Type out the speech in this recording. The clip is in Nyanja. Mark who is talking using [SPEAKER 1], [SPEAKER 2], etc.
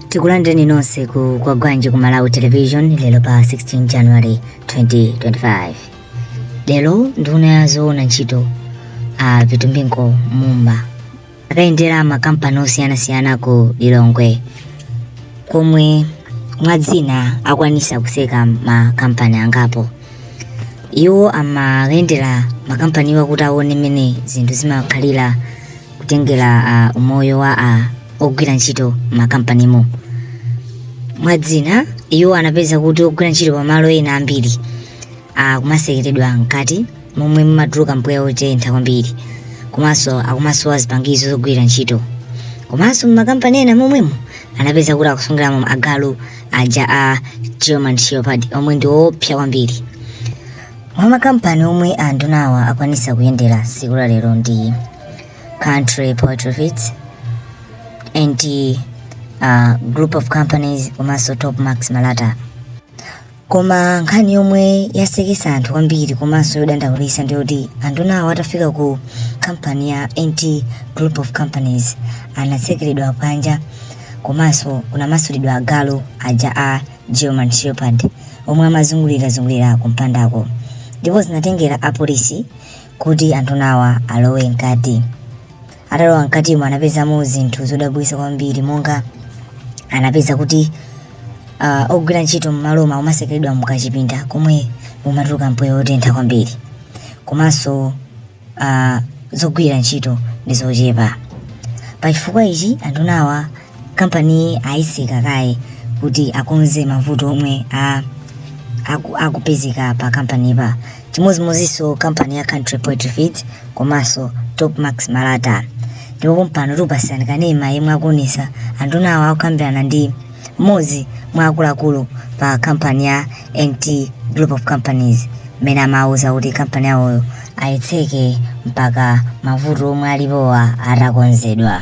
[SPEAKER 1] tikulandireni nonse ku Kwagwanji ku malawi television lero pa 16 january 2025 lero nduna ya zoona ntchito a Vitumbiko mumba akayendera makampani osiyanasiyana ku lilongwe komwe mwa zina akwanisa kuseka makampani angapo iwo amayendera makampaniwa kuti aone mmene zinthu zimakhalira kutengera uh, umoyo wa uh, ogwira ntchito makampanimu mwa zina iwo anapeza kuti ogwira ntchito pamalo ena ambiri akumasekeredwa mkati momwe mumatuluka mpweya wotentha kwambiri komanso akumasowa zipangizo zogwira ntchito komanso mumakampani ena momwemo anapeza kuti akusungiramo agalu aja a german shepherd omwe ndi oopsa kwambiri mwa makampani omwe andunawa akwanisa kuyendera siku la lero ndi country poultry feeds NT uh, group of companies komanso top max malata koma nkhani yomwe yasekesa anthu kwambiri komanso yodandaulisa ndiyoti andunawa atafika ku kampani ya nt group of companies anatsekeredwa panja komanso kunamasulidwa agalu aja a german shepherd omwe amazungulirazungulira kumpandako ndipo zinatengera apolisi kuti andunawa alowe mkati atalowa mkatimo anapezamo zinthu zodabwitsa kwambiri monga anapeza kuti uh, ogwira ntchito m'malomo amasekeredwa mukachipinda komwe mumatuluka mpweya wotentha kwambiri komanso uh, zogwira ntchito ndi zochepa pachifukwa ichi andunawa kampani ayitseka kaye kuti akonze mavuto omwe a aku- akupezeka pa kampanipa chimodzimodzinso kampani ya country poultry feeds komanso top max malata ndipo pompano tikupasirani kanema yemwe akuonesa andunawa akukambirana ndi mmodzi mwa akuluakulu pa kampani ya nt group of companies mmene amawuza kuti kampani yawoyo ayitseke mpaka mavuto omwe alipowa atakonzedwa